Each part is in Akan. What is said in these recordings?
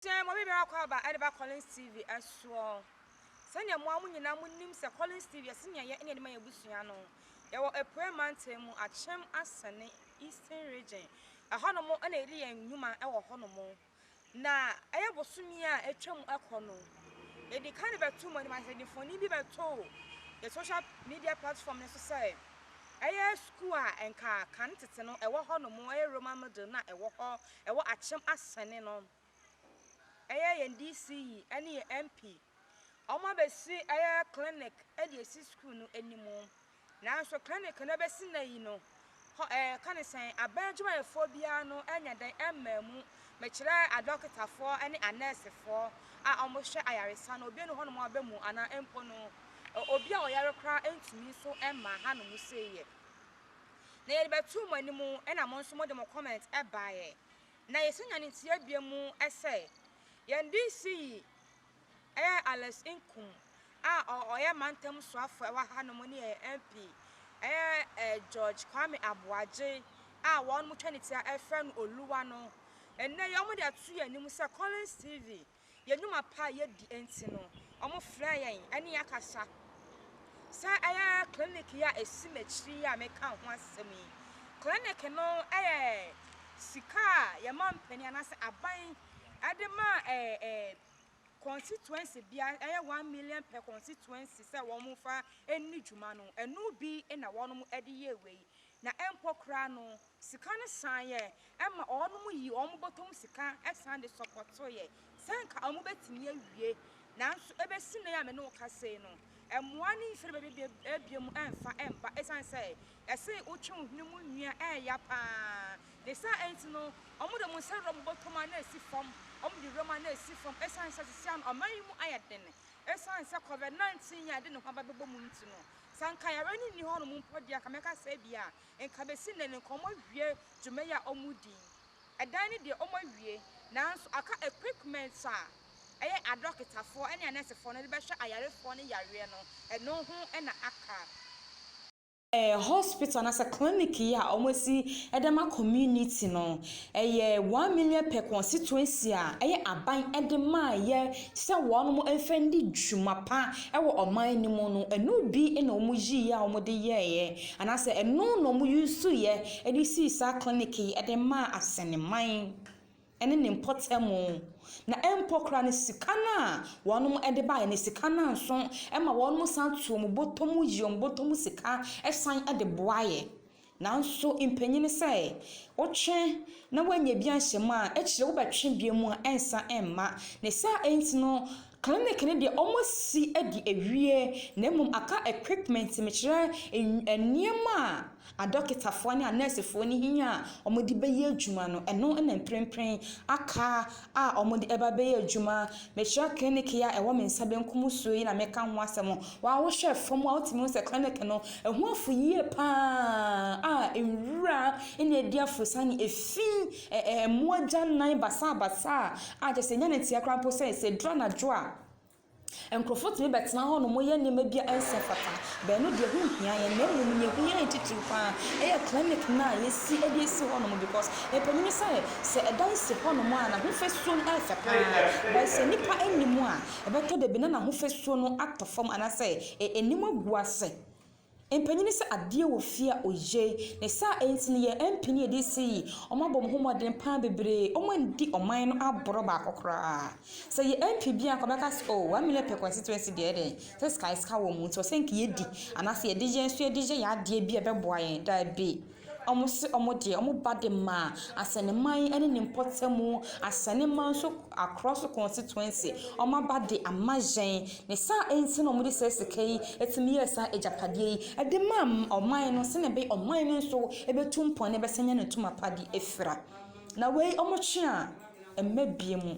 Dɛn ma obibiara kɔ aba de ba Collins TV soɔ? Sɛdeɛ mo ara mo nyinaa mo nim sɛ Collins TV yɛ sɛdeɛ yɛ na yɛde ma yɛn abusua no. Yɛwɔ Apueɛ mantam mu, Akyem Asene, Eastern Region. Ɛhɔ nom na yɛde yɛn nnwuma wɔ hɔ nom. Na ɛyɛ bosome a atwa mu kɔ no, yɛde ka de bɛto mo anim ase, yɛde mfoni bi bɛto yɛ social media platform no so sɛ ɛyɛ sukuu a nka kane tete no ɛwɔ hɔ nom, ɛyɛ Roman middle na ɛwɔ hɔ ɛwɔ Akyem Asɛnne no, ɛyɛ yɛn DC yi ne yɛn MP, wɔabɛsi ɛyɛ clinic de asi sukuu no anim. Nanso clinic no bɛsi nnɛ yi no, hɔ ɛɛ yɛka ne sɛn, abɛn adwumayɛfoɔ biara no anya dɛn mmaa mu, mekyerɛ adɔkotafoɔ ne anɛɛsefoɔ a wɔhwɛ ayaresa no, obi nni hɔnom a ɔbɛ mu anaa mpo no obi a ɔyare koraa ntumi nso mmaa hanom sei yɛ. na yɛde bɛtoo mo anim na mo nso mode mo comment baeɛ. Na yɛsɛ nyane nteɛ bio mu sɛ, yɛn DC yi yɛ Alex Nkum a ɔyɛ mantam soafoɔ wɔ ha nom ne yɛn MP yɛ George Kwame Aboagye a wɔn mo twa ne ti a yɛfrɛ no Oluwa no. Ɛnnɛ yi wɔde ato yɛn anim sɛ Collins TV yɛn nnwuma pa a yɛdi nti no, wɔfrɛɛ yɛn ne yɛn akasa. Saa ɛyɛ ara clinic yi a ɛsi m'akyiri yi a meka ho asɛm yi. Clinic no yɛ sika a yɛma mpanin anaasɛ aban de ma ɛɛ ɛɛ constituency bia ɛyɛ one million per constituency sɛ wɔn fa ɛni dwuma no ɛno bi na wɔn de yɛ wei Na mpo koraa no, sika no san yɛ ma wɔnom yii wɔn bɔtɔm sika san de sɔpɔtoeɛ sɛ anka wɔbɛtumi awie. Nanso ɛbɛsi nnɛ yi a me ne wo kasa yi no, mmoa no mfiri baabi abiem mfa mma ɛsiane sɛ yɛse wotwe wo hwene mu nwia a ɛya pa ara. Ne saa nti no, wɔde wɔn nsa wura wɔn bɔtɔm a na ɛsi fam, wɔde wuram a na ɛsi fam ɛsiane sɛ seesei ara no ɔman yi mu ayɛ den ɛsiane sɛ Covid 19 yi a ɛde ne ho aba bɛbɔ mu nti no. Sɛ anka yare no nni hɔnom mpo deɛ, anka mɛka sɛ ebia anka bɛsi nnɛ no anka wɔawie dwuma yi a wɔredi yi. Ɛdan no deɛ wɔawie, nanso aka equipments a ɛyɛ adɔkotafoɔ ne anɛɛsefoɔ no de bɛhwɛ ayarefoɔ no yareɛ no, ɛno ho na aka. Hospital anaasɛ clinic yi a wɔasi de ama community no, Ɛyɛ one million per constituency a ɛyɛ aban de maayɛ sɛ wɔn mo nfa ndi dwuma pa wɔ ɔman no mu no ɛno bi na wɔn yii a wɔn de yɛɛyɛ anaasɛ ɛno na wɔn yusuuyɛ de sii saa clinic yi de maa asɛneman ɛne ne mpɔtamu na ɛmpɔ koraa no sika no a wɔn mo de baayɛ no sika no nso ɛma wɔn mo san to wɔn bɔtɔ mu yi wɔn bɔtɔ mu sika ɛsan de boayɛ Nanso mpanyin sɛ wotwe na woannya bi anhyɛ mu a, akyire wobɛtwe bio mu a ɛnsa mma. Ne saa enti no clinic no deɛ wɔasi adi awie na mmom aka equipment mekyerɛ nneɛma a adɔketafoɔ ne anɛɛsefoɔ no hia a wɔde bɛyɛ adwuma no, ɛno na mprempren aka a wɔde ɛba bɛyɛ adwuma. Mekyerɛ clinic yi a ɛwɔ me nsa benkum so yi na meka ho asɛm. Wo a wohwɛ fam a wotumi hu sɛ clinic no ɛho afu yie paa a nwura na adi afurusa ne efi mmoa agyanan basabasa a kyerɛ sɛ nya no nteɛ koraa mpo sɛ sɛ ɛduru anadwo a Nkurɔfo tumi bɛtena hɔnom yɛ nneɛma bi a ɛnsɛ mfata. Bɛn no deɛ ɛho nhia yɛn na mmom nea ɛhia yɛn titiriw pa ara yɛ clinic no a yɛasi de asi hɔnom because ɛpanin ne sɛ, sɛ ɛdan si hɔnom a n'ahofasuo no yɛ fɛ pa ara but sɛ nnipa nni mu a ɛbɛtɔ dabi na n'ahofasuo no atɔ fam anaasɛ ɛnim agu ase. Mpanyin sɛ adeɛ wɔ fie a oye. Ne saa nti no yɛ MP ne yɛde si yi, wɔn abɔ wɔn ho mmɔden paa bebree, wɔn andi ɔman no aborɔ baako koraa. Sɛ yɛ MP bi anka ɔbɛka sɛ oh one million per constituency deɛ ɛdɛn, sɛ sika sika wɔ mu nti ɔsɛ nka yɛdi anaasɛ yɛde yɛn nso yɛde yɛ yɛ adeɛ bi a ɛbɛboa yɛn, daabi. Wɔse wɔn deɛ wɔn ba de maa Asɛnneman ne ne mpɔtamu, Asɛnneman nso across the constituency, wɔn aba de ama yɛn. Ne saa enti na wɔde saa sika yi tumi yɛɛ saa agyapadeɛ yi de maa ɔman no sɛdeɛ ɛbɛyɛ ɔman no nso bɛtu mpɔn na ɛbɛsan anya ne tumapa de afira. Na wei wɔtwe a, ɛmma bie mu.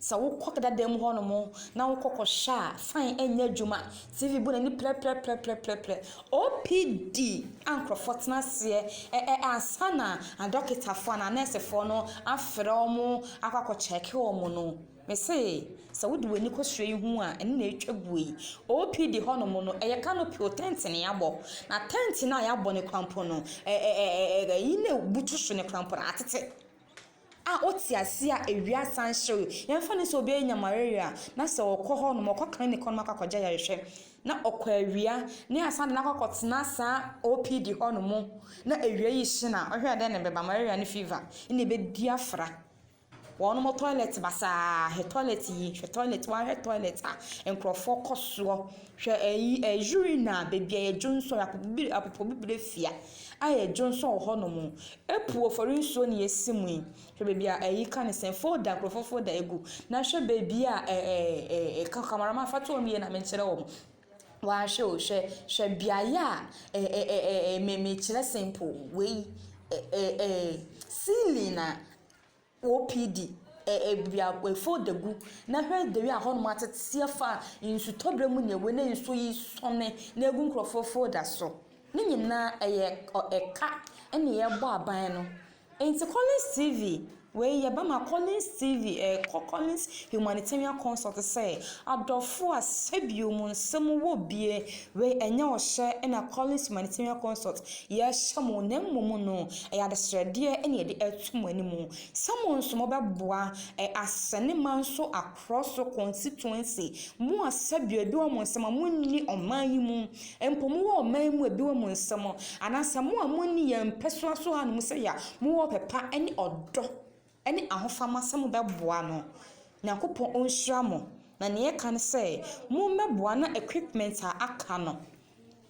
Sɛ wokɔ dada mu hɔnom na wokɔ kɔhwɛ a, fine ɛnyɛ adwuma. TV bɔ n'ani prɛprɛprɛprɛprɛ. OPD a nkurɔfoɔ tena aseɛ ɛ ɛ ansa na adɔkotafoɔ anaa anɛɛsefoɔ no afrɛ wɔn akɔ akɔkyɛɛke wɔn no, mese sɛ wode w'ani kɔhwɛ yi hu a, ɛno na ɛretwa guo yi. OPD hɔnom no, ɛyɛ canopy o, tent na wɔabɔ. Na tent no a wɔabɔ no koraa mpo no, ɛ ɛ ɛ ɛ ɛ ɛyi na ɛbutu so no koraa mpo no, atete. a ɔte aseɛ a awia san hye no, yɛmfa no sɛ obi anya malaria a, na sɛ ɔkɔ hɔ nom, ɔkɔ clinic hɔ nom akɔ akɔgye ayarehwɛ, na ɔkɔ awia, na yɛasan de no akɔ akɔtena saa OPD hɔ nom, na awia yi hye no a, wohwɛ a dɛn na ɛbɛba? Malaria ne fever na ɛbɛdi afra. Wɔnom toilet basaa, hwɛ toilet yi, hwɛ toilet, woahwɛ toilet a nkurɔfoɔ kɔ soɔ, hwɛ ayi ɛɛ urine a baabi a yɛdwonsɔ, apopobibire fea a yɛdwonsɔ wɔ hɔ nom, Apu ɔfɔre nsuo na yɛsi mu yi, hwɛ baabi a ɛyi ka ne sɛn, folder nkorɔfoɔ folder ɛgu, na hwɛ baabi a ɛɛ cameraman fa to wɔn yie na menkyerɛ wɔn, waa hwɛ o, hwɛ, hwɛ beaeɛ a ɛɛ ɛɛ me mekyerɛ simple wei ɛɛ ɛɛ ceiling a. OPD, ɛ, ɛ, biri a wɔafow da gu, na hwɛ deri a hɔnom atsetse afa nsutɔber mu na hɔn nsu yi sɔnne na egu nkorɔfo fow da so. Ne nyina yɛ, ɔ, ɛ, ka na yɛbɔ aban no. Ntsi Collins TV, wei yɛ bɛma Collins TV, ɛ, kɔ Collins Humanitarian Consult sɛ, Adɔfo a, sɛ bio mo nsɛm wɔ bie Wei ɛnyɛ ɔhyɛ na Collins Humanitarian Consult yɛ hyɛ mo na mmom no ɛyɛ adesrɛdeɛ na yɛde ato mo anim sɛ mo nso mo bɛboa ɛ asɛne man so akorɔ so constituency mo a sɛbi ebi wɔ mo nsɛm a mo nni ɔman yi mu mpo mo wɔ ɔman yi mu ebi wɔ mo nsɛm anaasɛ mo a mo nni yɛn mpɛsoa so hanom sɛ ya mo wɔ ɔpɛ pa ne ɔdɔ ne ahofama sɛ mobɛboa no. Nyankopɔn ɔnhyira mo. Na nea ɛka ne sɛ mommɛboa na equipment a aka no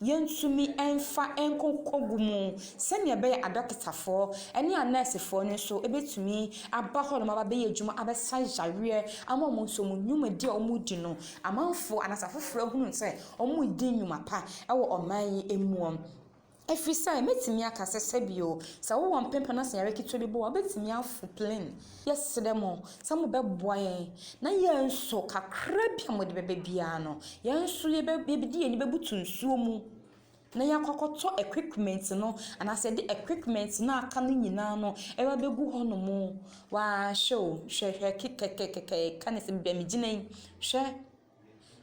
yɛntumi mfa nkɔkɔ gu mu sɛnea ɛbɛyɛ a adɔketafoɔ ne anɛɛsefoɔ no nso bɛtumi aba hɔnom aba bɛyɛ adwuma abɛsa yareɛ ama wɔn nso wɔn nnwumadi a wɔdi no amanfoɔ anaasɛ afoforɔ ahunu sɛ wɔredi nnwuma pa wɔ ɔman yi mu. Ɛfiri sɛ, mɛtumi aka sɛ, sɛbio, sɛ wowɔ mpempa na sanyare ketewa bi bɔ wo a, wobɛtumi afo plane. Yɛsrɛ mo sɛ mobɛboa yɛn na yɛn nso, kakra bi a mode bɛba biara no, yɛn nso yɛbɛ, yɛbɛde yɛn ani bɛbutu nsuo mu na yɛakɔ akɔtɔ equipment no, anaasɛ yɛde equipment no a aka no nyinaa no ɛba bɛgu hɔnom. Waa, hwɛ o, hwɛ, hwɛ, kekɛkɛkɛkɛ, ka ne sɛ baabi a megyina yi, hwɛ.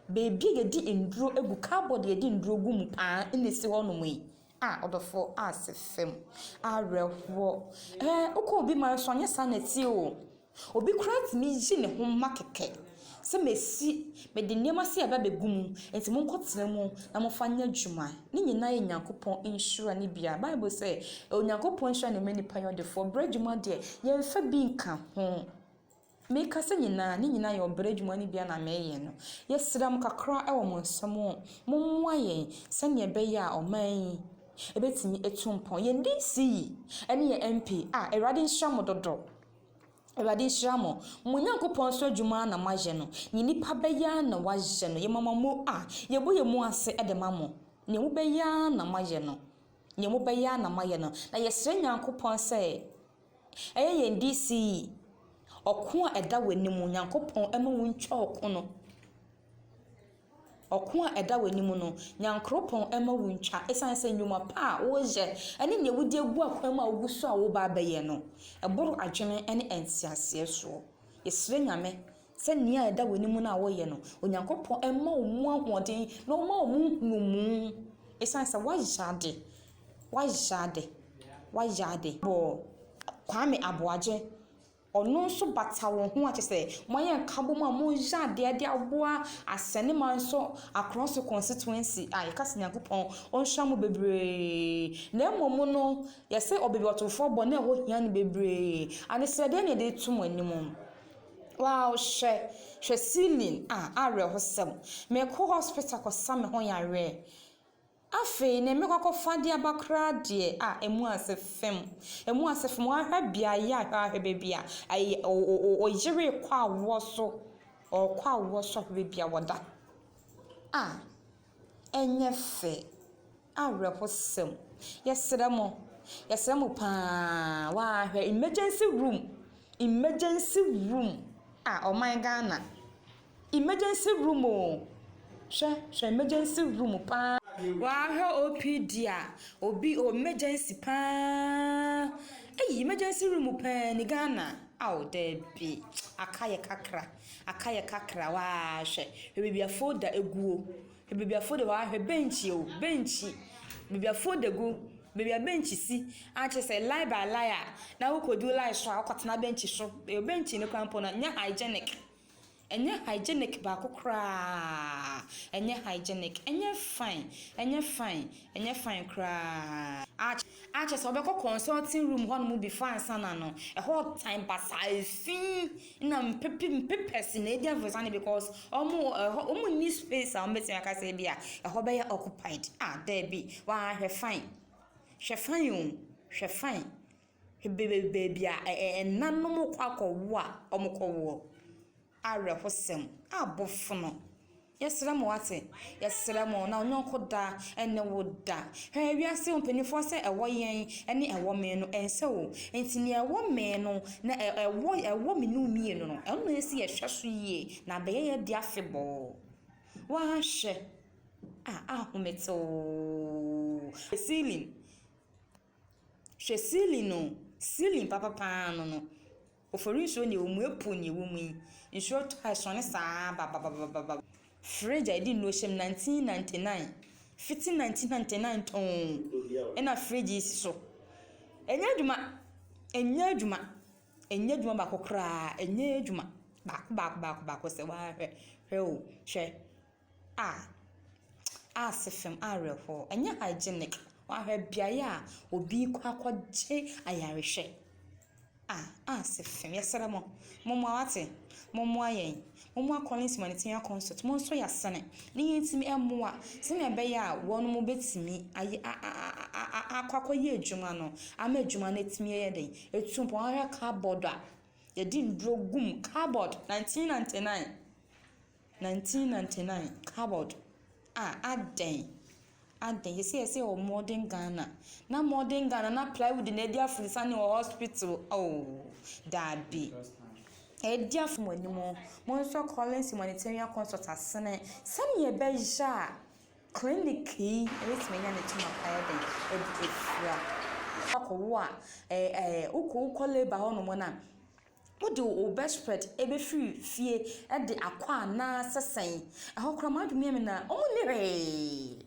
Baabi a yɛde nnuro gu, cupboard a yɛde nnuro gu mu paa na ɛsi hɔnom yi. Ah ɔdɔfoɔ ase fam awerɛhoɔ. Ɛɛ wokɔ obi man so a, ɛnyɛ saa na ɛteɛ o. Obi koraa tumi yi ne ho ma kɛkɛ sɛ masi, mede nneɛma sei aba abɛgu mu, enti monkɔtena mu na momfa nyɛ adwuma. Ne nyinaa yɛ Onyankopɔn nhyira no bi ara. Bible sɛ, Onyankopɔn nhyira na ɛma nnipa yɛ ɔdefoɔ. Berɛ adwuma deɛ, yɛmfa bi nka ho. Me kasa nyinaa, ne nyinaa yɛ ɔbrɛ adwuma no bi a na meyɛ no. Yɛsrɛ mo kakra wɔ mo nsam o, mommoa yɛn sɛnea ɛbɛyɛ a ɔman yi ɛbɛtumi atu mpɔn. Yɛn DC yi ne yɛn MP a Awurade nhyira mo dodo. Awurade nhyira mo. Mo Nyankopɔn nso adwuma ara na moayɛ no. Nea nnipa bɛyɛ ara na wɔayɛ no. Yɛn mama mo a, yɛbɔ yɛn mu ase de ma mo. Nea mobɛyɛ ara na moayɛ no. Nea mobɛyɛ ara na moayɛ no. Na yɛsrɛ Nyankopɔn sɛ Ɛyɛ yɛn de sii ɔko a ɛda w'anim, Nyankopɔn, mma wontwa ɔko no. Ɔko a ɛda w'anim no, Nyankoropɔn mma wontwa, esiane sɛ nnwuma pa a woreyɛ ne nea wode agu akwan mu a wugu so a woreba abɛyɛ no, ɛboro adwene ne nteaseɛ soɔ. Yɛsrɛ Nyame Sɛ nea ɛda w'anim no a woyɛ no, Onyankopɔn mma wo mu ahoɔden na ɔmma wo mu nhunumu. Esiane sɛ woayɛ ade, woayɛ ade, woayɛ ade bɔ Kwame Aboagye, ɔno nso bata wo ho a, kyerɛ sɛ moayɛ nkabom a moreyɛ adeɛ de aboa Asɛnemanso Akorɔnso Constituency a yɛka sɛ Nyankopɔn ɔnhyira mo bebree. Na mmom no, yɛse ɔbɛbiɔtofoɔ bɔ na ɛhɔ hia no bebree. Adesrɛdeɛ na yɛde reto mo anim. Wow hwɛ hwɛ ceiling ah awerɛhosɛm mekɔ hospital kɔsa me ho yareɛ afei neɛ mekɔ akɔfa de aba koraa deɛ ah ɛmu ase fem ɛmu ase fem wahwɛ beaeɛ a hwɛ ahwɛ baabi a ɛyɛ ɔyere kɔ awoɔ so ɔkɔ awoɔ so ahwɛ baabi a wɔda ah ɛnyɛ fɛ. Awerɛhosɛm. Yɛsrɛ mo, yɛsrɛ mo pa ara, waa hwɛ emergency room, emergency room, ah ɔman Ghana, emergency room o, hwɛ, hwɛ emergency room pa ara. Waa hwɛ OPD a, obi o emergency pa ara, ei emergency room pa ara ni Ghana, ao daabi, aka yɛ kakra, aka yɛ kakra, waa hwɛ, hwɛ baabi a folder aguo. Ebibiafo de hɔ ahwɛ bɛnkyi o bɛnkyi bibiafo de gu baabi a bɛnkyi si a kyerɛ sɛ line by line a na wokɔ du line so a wokɔ tena bɛnkyi so ɛyɛ bɛnkyi no koraa mpo no ɛnyɛ hygienic ɛnyɛ hygienic baako koraa ɛnyɛ hygienic ɛnyɛ fine ɛnyɛ fine ɛnyɛ fine koraa. Ara kyerɛ sɛ wɔbɛkɔ consulting room hɔ nom before ansa na no ɛhɔ tan basaa efi na mpepe mpepɛse na edi anfesa no because wɔn ɛhɔ wɔn nni space a wɔn betumi aka sɛ ebi a ɛhɔ bɛyɛ occupied ah dɛbi waa hwɛ fine hwɛ fine o hwɛ fine hwɛ baabi a ɛnanom kɔ akɔ wo a wɔn kɔ woɔ. Awerɛhosɛm a bofono. Yɛsrɛ mo ase, yɛsrɛ mo na wo yɔnko da ne wo da. Hwɛ wiase mpaninfoɔ sɛ ɛwɔ yɛn ne ɛwɔ me no ɛnsɛ o. Nti nea ɛwɔ me no na ɛwɔ ɛwɔ me ne wo mmienu no ɛno na ɛsɛ yɛhwɛ so yie na abɛyɛ yɛ de afebɔɔ. Woahwɛ a ahomete oo. Ceiling hwɛ ceiling o ceiling papa paa no no Ofori nsuo nie omue puu nie wo mu yi nsuo tɔ a ɛsɔne saa babababababa. Firi agya edi nnuro hyɛm nineteen ninety nine fiti nineteen ninety nine tɔnn ɛna fridge yi si so ɛnyɛ adwuma ɛnyɛ adwuma ɛnyɛ adwuma baako koraa ɛnyɛ adwuma baako baako baako baako sɛ waa hwɛ hwɛ oo hwɛ. Ah, ah Sefem awerɛhoɔ, ɛnyɛ hygienic, wahwɛ beaeɛ a obi rekɔ akɔgye ayarehwɛ. Ah, ah Sefem, yɛsrɛ mo, mommoa wate, mommoa yɛn, mommoa Collins Humanitarian Consult, monso yɛ asene na yɛntumi mmoa sɛdeɛ ɛbɛyɛ a wɔn bɛtumi ayɛ a a a a akɔ akɔyɛ adwuma no ama adwuma no atumi ayɛ dɛn, atu mpɔn. Woahwɛ cupboard a yɛde nnuro gu mu, cupboard, 1999. 1999 award a adɛn adɛn yɛsɛ yɛsɛ wɔ modern Ghana na modern Ghana na plywood na ɛdi afurisane wɔ hospital oh daabi ɛdi afo mo anim mo nso Collins humanitarian consult asene sɛnea ɛbɛyɛ a clinic yi ɛbɛtumi anya ne kyɛm apa yɛ dɛn ɛde afira akɔwo a ɛɛ wokɔ wokɔ labour hɔ nom no a Wode wo bedspread bɛfiri fie de akɔ anaasɛ sɛn? Ɛhɔ koraa m'adwene yɛ me na, wɔn nni hwee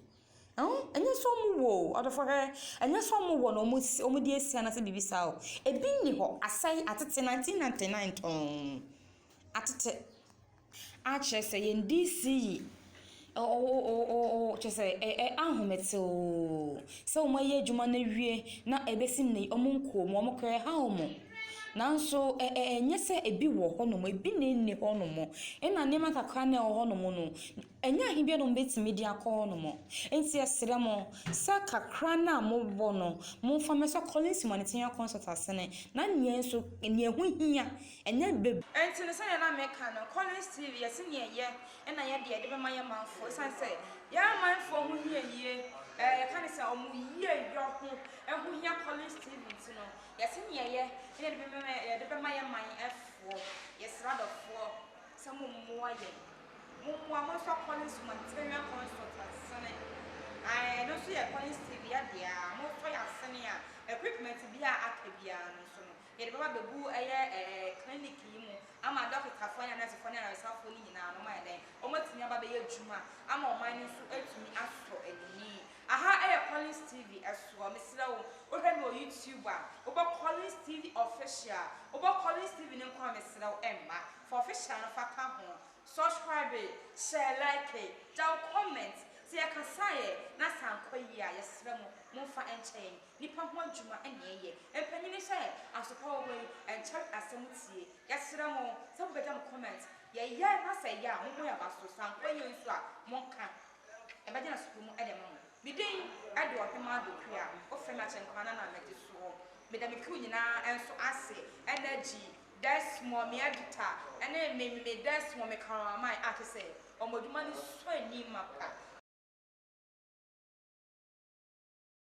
oh, ɛnyɛ sɛ wɔn wɔ o, ɔdɔfoɔ hwɛ, ɛnyɛ sɛ wɔn wɔ na wɔn de asi anaasɛ biribi saa o, ɛbi nni hɔ, asɛe, atete, 1999 tɔnn, atete. Akyerɛ sɛ yɛn DC yi oo kyerɛ sɛ ahomete oo sɛ wɔn ayɛ adwuma no awie na ɛbɛsi nnɛ yi wɔn nkɔɔ mu wɔn kra ɛha wɔn nanso ɛnyɛ sɛ ebi wɔ hɔ nom ebi na ɛnni hɔ nom ɛna nneɛma kakra na ɛwɔ hɔ nom no ɛnyɛ ahe biara na wɔn bɛtumi de akɔ hɔ nom nti yɛsrɛ mo sɛ kakra no a mowɔ no momfa mmɛsɔ Collins Monitor Consultants no na nea nso nea ɛho hia. Ɛnyɛ bɛ. Ɛnti no sɛdeɛ na meka no, Collins TV yɛ sɛdeɛ ɛyɛ na yɛ deɛ de bɛma yɛ manfoɔ ɛsiane sɛ yɛ amanfoɔ ho hia yie ɛɛ yɛka no sɛ ɔmo yie yɔ ho ɛho hia Collins TV nti no yɛ sɛdeɛ ɛyɛ na yɛde bɛma yɛ de bɛma yɛ man foɔ yɛ srɛ adɔfoɔ sɛ mo mmoa yɛn mo mmoa mo nfa Collins humanitarian consult nsene ae ɛno nso yɛ Collins TV yɛ deɛ a mo tɔ yɛ asene a equipment biara aka biara no nso no. Yɛde bɛba abɛgu ɛyɛ ɛɛ clinic yi mu ama dɔketafoɔ ne anɛsefoɔ ne ayaresafoɔ no nyinaa no wɔn ayɛ dɛn? Wɔn atumi aba abɛyɛ adwuma ama ɔman no nso atumi asɔ ani. Aha ɛyɛ Collins TV ɛsoɔ, mesrɛ wo wo hwɛ me wɔ YouTube a wo bɔ Collins TV official, wo bɔ Collins TV no nko a mesrɛ wo ɛmma, fa official no fa ka ho, subscribe, hyɛ like, gya wo comment, sɛ yɛ kasaeɛ na asankɔ yie a yɛsrɛ mo mo nfa nkyɛ yɛn. Nipa ho adwuma na yɛyɛ. Mpanyini sɛ asopa wɔ hɔ yi ɛnkyɛre asɛm tie. Yɛsrɛ mo sɛ mo bɛgya mo comment. Yɛyɛ na sɛ ɛyɛ a mo bɔ yɛn aba so. Sɛ ankɔ yie nso a mo nka. Yɛbɛgye no asopa mu de ama mo. Me din de Ɔhemaa Dokuya. Wo frɛ me Akyɛnkwaa na na mede soɔ. Meda me crew nyinaa nso ase, Energy, Desmore, me editor, ne me me me Desmore, me camera man a kyɛ sɛ wɔn adwuma no sɔ ani mapa.